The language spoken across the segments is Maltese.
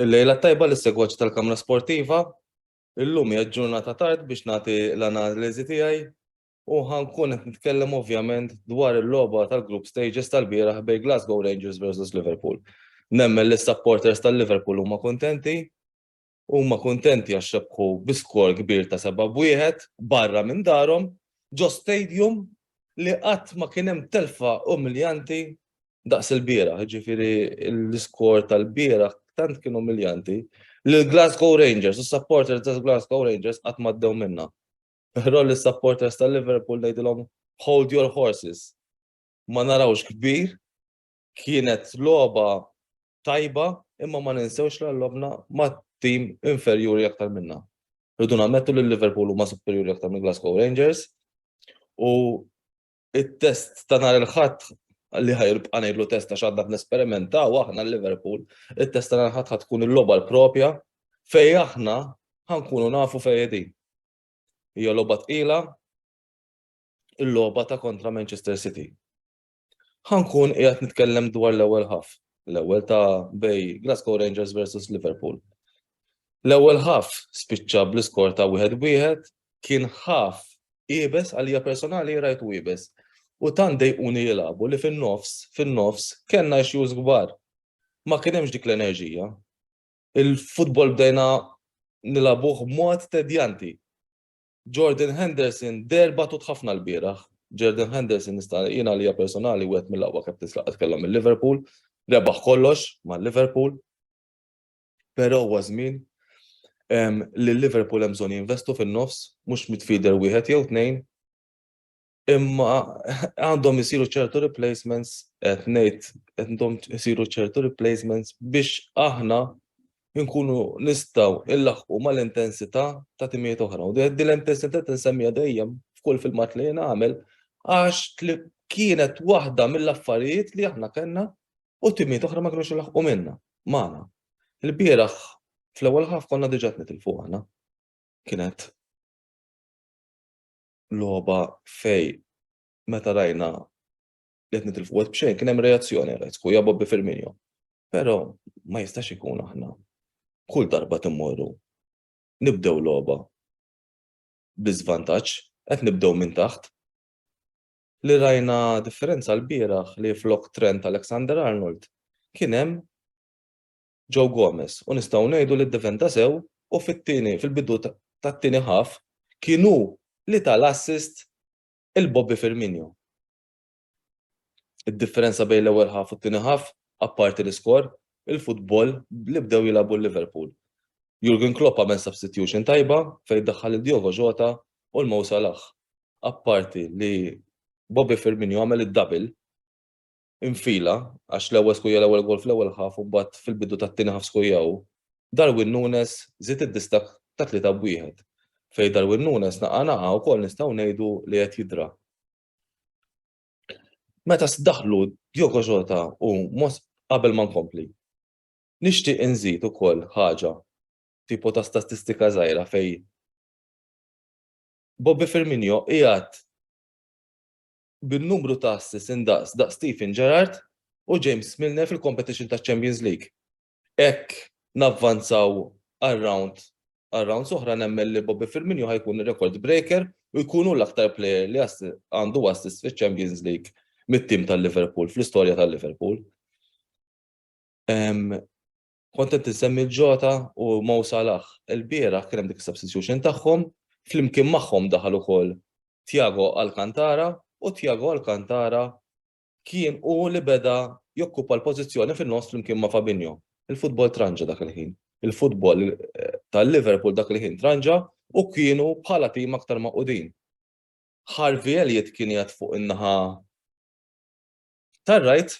Il-lejla t-tajba lis-segwaċi tal-Kamra Sportiva. Illum hija ġurnata tard biex nagħti l-analiżi tiegħi u ħankun qed nitkellem ovvjament dwar il-logħba tal-group stages tal-bieraħ bejn Glasgow Rangers versus Liverpool. Nemmen li s-supporters tal-Liverpool huma kuntenti Huma kuntenti għax rebħu bi skor kbir ta' seba' b'wieħed barra minn darhom ġo stadium li qatt ma kien hemm telfa umiljanti daqs ilbieraħ. Jiġifieri l-iskor tal-bieraħ tant kien umiljanti li l-Glasgow Rangers, is-supporters tal-Glasgow Rangers qatt ma ddew minnha. Però lis-supporters tal-Liverpool ngħidilhom hold your horses. Ma narawx kbir Kienet logħba tajba imma ma ninsewx li għallobna ma' tim inferjuri aktar minna. Rridu nammettu li Liverpool huma superjuri aktar minn Glasgow Rangers u it-test ta' nhar il-ħadd li ħajrbqa' ngħidlu test għax għandna nesperimenta u aħna Liverpool, it-test ta' nhar il-ħadd ħad tkun il-logħba l-propja fej aħna ħankunu nafu fej din. Hija logħba tqila, il-logħba ta' kontra Manchester City. Ħa nkun qiegħed nitkellem dwar l-ewwel ħaf, l-ewwel ta' bej Glasgow Rangers versus Liverpool. L-ewwel ħaf spiċċa bl-iskor ta' wieħed wieħed kien ħaf ibes għalija personali rajt u ibes. U tant dejquni jilabu li fin-nofs, fin-nofs, kellna issues kbar. Ma kien hemmx dik l-enerġija. Il-futbol bdejna nilabuh mod tedjanti. Jordan Henderson deher batut ħafna lbieraħ. Jordan Henderson nista' jien għalija personali wieħed mill-aqwa captains li qatt kellhom mill-Liverpool, rebaħ kollox mal-Liverpool. Però huwa żmien li l-Liverpool hemm bżonn jinvestu fin-nofs, mhux midfielder wieħed jew tnejn. Imma għandhom isiru ċertu replacements, qed ngħid għandhom isiru ċertu replacements biex aħna nkunu nistgħu illaħqu mal-intensità ta' timijiet oħra. U din l-intensità tinsemmija dejjem f'kull filmat li jien għamel għax kienet waħda mill-affarijiet li aħna kellna u timijiet oħra ma kienux ilaħqu minna, magħna. Il-bieraħ fl-ewwel ħaf konna diġà tnitilfu aħna. Kienet logħba fej meta rajna li qed nitilfu wet b'xejn kien hemm reazzjoni għalhekk u jabob bi Firmino. Però ma jistax ikun aħna kull darba timmorru nibdew logħba bi żvantaġġ qed nibdew minn taħt li rajna differenza l-bieraħ li flok Trent Alexander Arnold kien hemm Joe Gomez u nistgħu ngħidu li ddefenda sew u fit-tieni fil-bidu tat-tieni half kien hu li ta l-assist il Bobby Firmino. Id-differenza bejn l-ewwel half u t-tieni half apparti l-iskor, il-futbol li bdew jilagħbu l-Liverpool. Jurgen Klopp għamel substitution tajba fejn daħħal lil Diogo Jota u l-Mo Salah. Apparti li Bobby Firmino għamel id-double infila għax l-ewwel skujja l-ewwel goal fl-ewwel half u mbagħad fil-bidu tat-tieni half skujja hu, Darwin Nunez żied id-distakk ta' tlieta b'wieħed, fejn Darwin Nunez naqa' naqa' wkoll nistgħu ngħidu li qed jidra. Meta daħlu Diogo Jota u qabel ma nkompli, nixtieq inżid ukoll ħaġa tipo ta' statistika żgħira fejn Bobby Firmino qiegħed bin-numru ta' assists indaqs daqs Steven Gerrard u James Milner fil-competition taċ-Champions League. Hekk navvanzaw għal round għal rounds oħra nemmen li Bobby Firmino ħa jkun ir-record breaker u jkun hu l-aktar player li għandu assist fiċ-Champions League mit-tim tal-Liverpool, fl-istorja tal-Liverpool. Kont qed insemmi l-Jota u Mo Salah. Ilbieraħ kien hemm dik is-substitution tagħhom, flimkien magħhom daħal ukoll Thiago Alcantara u Thiago Alcantara kien hu li beda jokkupa l-pożizzjoni fin-nofs flimkien ma' Fabinho. Il-futbol tranġa dak il-ħin. Il-futbol tal-Liverpool dak il-ħin tranġa u kienu bħala tim aktar magħqudin. Harvey Elliott kien jgħid fuq in-naħa tar-right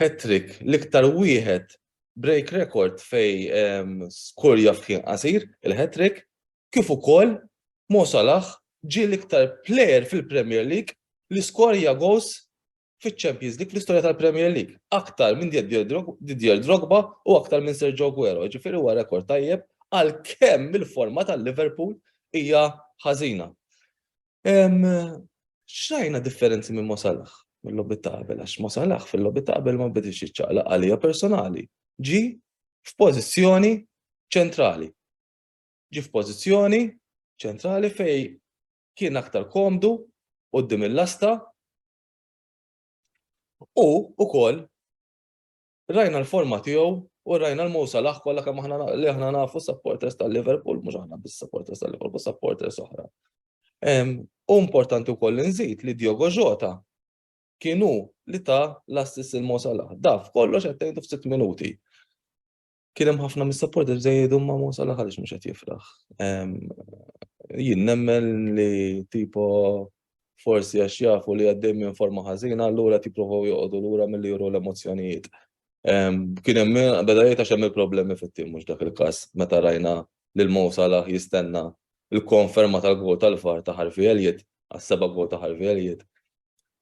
hat-trick, l-iktar wieħed break record fejn skur jaf f'ħin qasir, il-hat-trick, kif ukoll Mo Salah ġie l-iktar plejer fil-Premier League li skorja goals fiċ-Champions League fl-istorja tal-Premier League, aktar minn Didier Drogba u aktar minn Sergio Aguero, ġifieri huwa rekord tajjeb għalkemm il-forma tal-Liverpool hija ħażina. Xrajna differenzi minn Mo Salah mill-lobby ta' qabel, għax Mo Salah fil-lobby ta' qabel ma bidilx iċ-ċaqlaq għalija personali. Ġi f'pożizzjoni ċentrali. Ġi f'pożizzjoni ċentrali fej kien aktar komdu qudiem il-lasta u ukoll Rajna l-forma tiegħu u rajna l-Mo Salah kollha kemm aħna li aħna nafu supporters tal-Liverpool, mhux aħna biss supporters tal-Liverpool, supporters oħra. U importanti wkoll nżid li Diogo Jota kienu li ta' l-assist il-Mo Salah. Daf kollox qed tgħidu f'sitt minuti. Kien hemm ħafna mis-supporters żejjedu ma' Mo Salah għaliex mhux qed jifraħ. Jien nemmen li tipo forsi għax jafu li għaddej minn forma ħażina, allura qed jippruvaw joqogħdu lura milli juru l-emozzjonijiet. Ehm, kien hemm beda jgħid għax hemm il-problemi fit-tim mhux dak il-każ meta rajna lil Mo Salah jistenna il-konferma tal-gol tal-far ta' Harvey Elliot, għas-seba' gol ta' Harvey Elliot.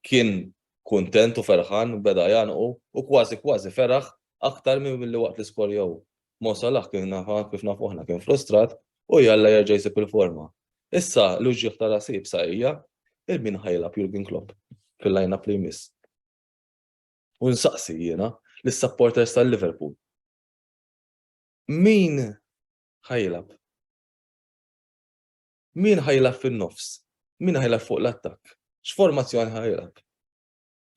Kien kuntent u ferħan beda janqu u kważi kważi feraħ aktar minn li waqt l-iskorjaw. Mo Salah kien nafa kif nafu aħna kien frustrat u jalla jerġa' jsib il-forma. Issa l-uġigħ ta' rasi ibsa hija il-min ħa jilgħab Jurgen Klopp fil-line-up li jmiss. U nsaqsi jiena lis-supporters tal-Liverpool. Min ħa jilgħab? Min ħa jilgħab fin-nofs? Min ħa jilgħab fuq l-attakk? X'formazzjoni ħa jilgħab?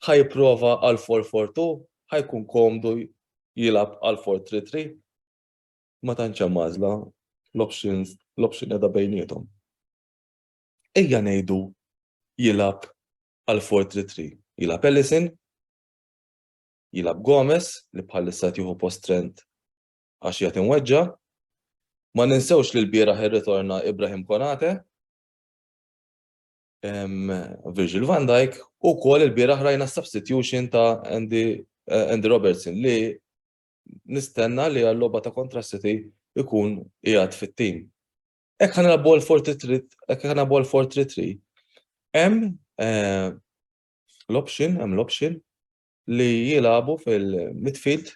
Ħa jipprova għal 4-4-2, ħa jkun komdu jilgħab għal 4-3-3. Ma tantx hemm għażla l-options l-option qiegħda bejniethom. Ejja ngħidu jilgħab għal 4-3-3. Jilgħab Ellison, jilgħab Gomez li bħalissa tieħu post Trent għax jagħti mweġġa. Ma ninsewx li l-bieraħ irritorna Ibrahim Konate. Virgil van Dijk u kol il-biraħ rajna substitution ta' Andy, eh, Andy Robertson li nistenna li għall-loba ta' kontra City ikun jgħad fit-tim. Ek ħana bol 43, ek ħana bol 43, em eh, l-option, em l-option li jilabu fil-midfield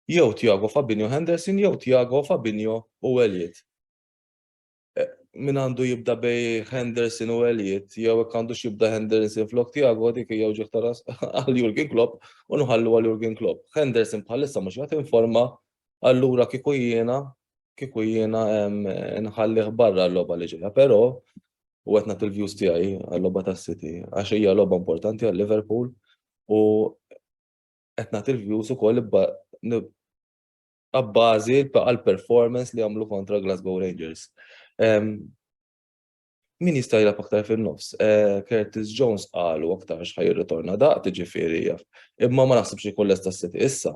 jew Tiago Fabinho Henderson jew Tiago Fabinho u Elliot. min għandu jibda bej Henderson u Elliot, jew hekk għandu xibda Henderson flok Tiago dik hija wġieħ taras għal Jurgen Klopp u nħallu għal Jurgen Klopp. Henderson bħalissa mhux qed informa allura kieku jiena kieku jiena nħallih barra l-logħba li ġejja, però u qed nagħti l-views tiegħi għal-logħba tas-City għax hija logħba importanti għal Liverpool u qed nagħti l-views ukoll abbażi għall-performance li għamlu kontra Glasgow Rangers. Min jista' jilgħab aktar fin-nofs? Eh, Curtis Jones qalu aktar x'ħaj jirritorna daqt ġifieri jaf. Imma ma naħsibx li kolles ta' siti issa.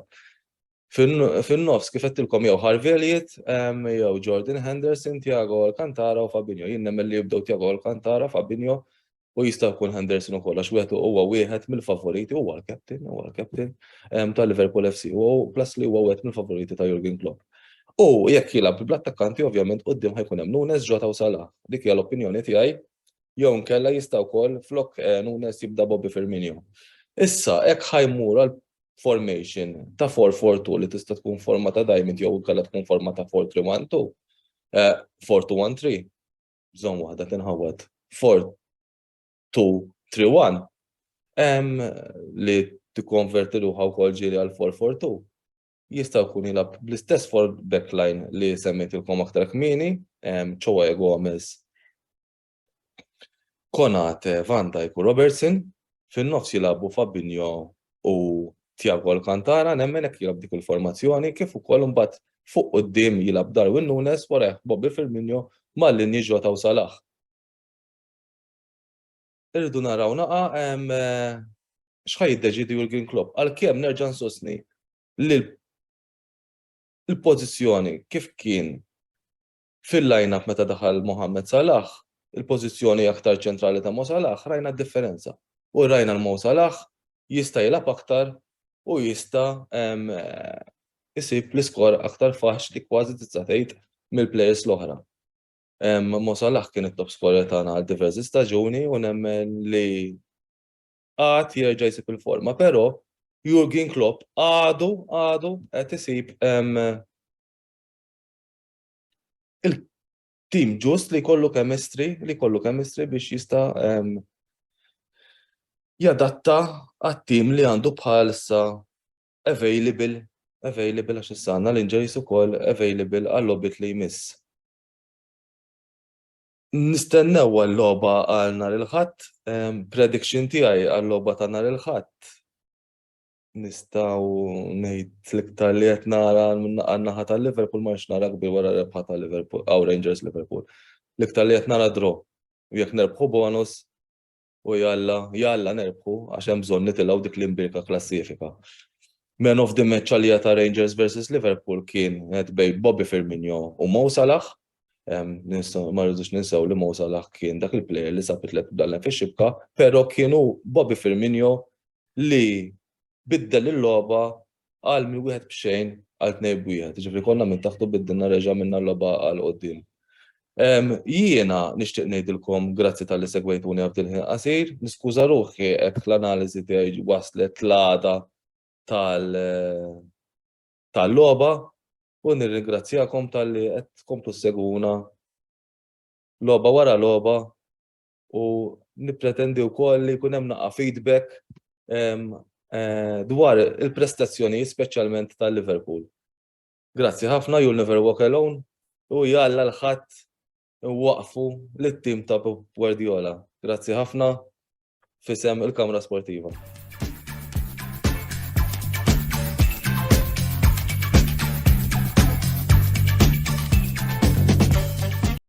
Fin-nofs kif qedtilkom jew Harveliet, jew Jordan Henderson, Tiago Alcantara u Fabinho. Jien nemmen li jibdew Tiago Alcantara, Fabinho, U jista' jkun Henderson ukoll għax wieħed huwa wieħed mill-favoriti huwa l-captain, huwa l-captain ehm, ta' Liverpool FC u plus li huwa wieħed mill-favoriti ta' Jurgen Klopp. U jekk jilgħab bl-attakkanti ovvjament qudiem ħajkun hemm Nunes, Jota u Salah. Dik hija l-opinjoni tiegħi jew nkella jista' wkoll flok eh, Nunes jibda Bobby Firmino. Issa hekk ħajmur għal formation ta' 4-4-2 li tista' tkun forma ta' diamond jew nkella tkun forma ta' 4-3-1-2, 4-2-1-3. Eh, bżonn waħda tinħawwad 4-2-3-1 li tikkonverti ruħha wkoll ġieli għal 4-4-2 jista' jkun jilgħab bl-istess for backline li semmejtilkom aktar kmieni, ċewwa Gomez, Konate, Van Dijk u Robertson, fin-nofs jilagħbu Fabinho u Thiago Alcantara nemmen hekk jilgħab dik il-formazzjoni kif ukoll imbagħad fuq quddiem jilgħab Darwin Nunes warajh Bobby Firmino ma' linji Jota u Salah. Irridu naraw naqa' x'ħa jiddeċiedi Jurgen Klopp għalkemm nerġa' nsostni li l-pożizzjoni kif kien Fil-line-up meta daħal Mohamed Salah, il-pożizzjoni aktar ċentrali ta' Mo Salah, rajna d-differenza. U rajna l-Mo Salah jista' jilgħab aktar u jista' jsib l-iskor aktar faċli kważi tista' tgħid mill-players l-oħra. Mo Salah kien it-top scorer tagħna għal diversi staġuni u nemmen li għad jerġa' jsib il-forma, però Jurgen Klopp għadu, għadu qed isib il-tim ġust li kollu kemistri, li kollu kemistri biex jista' jadatta għat-tim li għandu bħalissa available, available għax issa għandna l-injuries ukoll available għall-lobit li jmiss. Nistennew għal-loba għal nar il-ħadd, prediction tiegħi għal-loba ta' nar il-ħadd. Nistgħu ngħid l-iktar li qed nara għan-naħa ta' Liverpool ma nix nara kbir wara rebħa ta' Liverpool, għaw Rangers Liverpool. L-iktar li qed nara draw. U jekk nerbħu bonus u jalla, jalla nerbħu għax hemm bżonn nitilgħu dik l-imbirka klassifika. Man of the match għalija ta' Rangers versus Liverpool kien qed bej Bobby Firmino u Mo Salah ma rridux ninsaw li Mo Salah kien dak il-player li sab it-tlet bdallen fi xibka, pero kienu Bobby Firmino li biddel il-loba għal minn wieħed b'xejn għal tnej b'wieħed, ġifri konna minn taħtu biddilna reġa minna l-loba għal qoddim. Jiena nixtieq ngħidilkom grazzi tal-li segwejtuni għabdil ħin qasir, niskuża ruħi hekk l-analiżi tiegħi waslet l-għada tal-loba, u nirringrazzjakom talli qed tkomplu ssegwuna logħba wara logħba u nippretendi wkoll li jkun hemm naqa' feedback ehm, eh, dwar il-prestazzjonijiet speċjalment tal-Liverpool. Grazzi ħafna, you'll never walk alone, u jalla l-ħadd iwaqqfu lit-tim ta' Pep Guardiola. Grazzi ħafna f'isem il-Kamra Sportiva.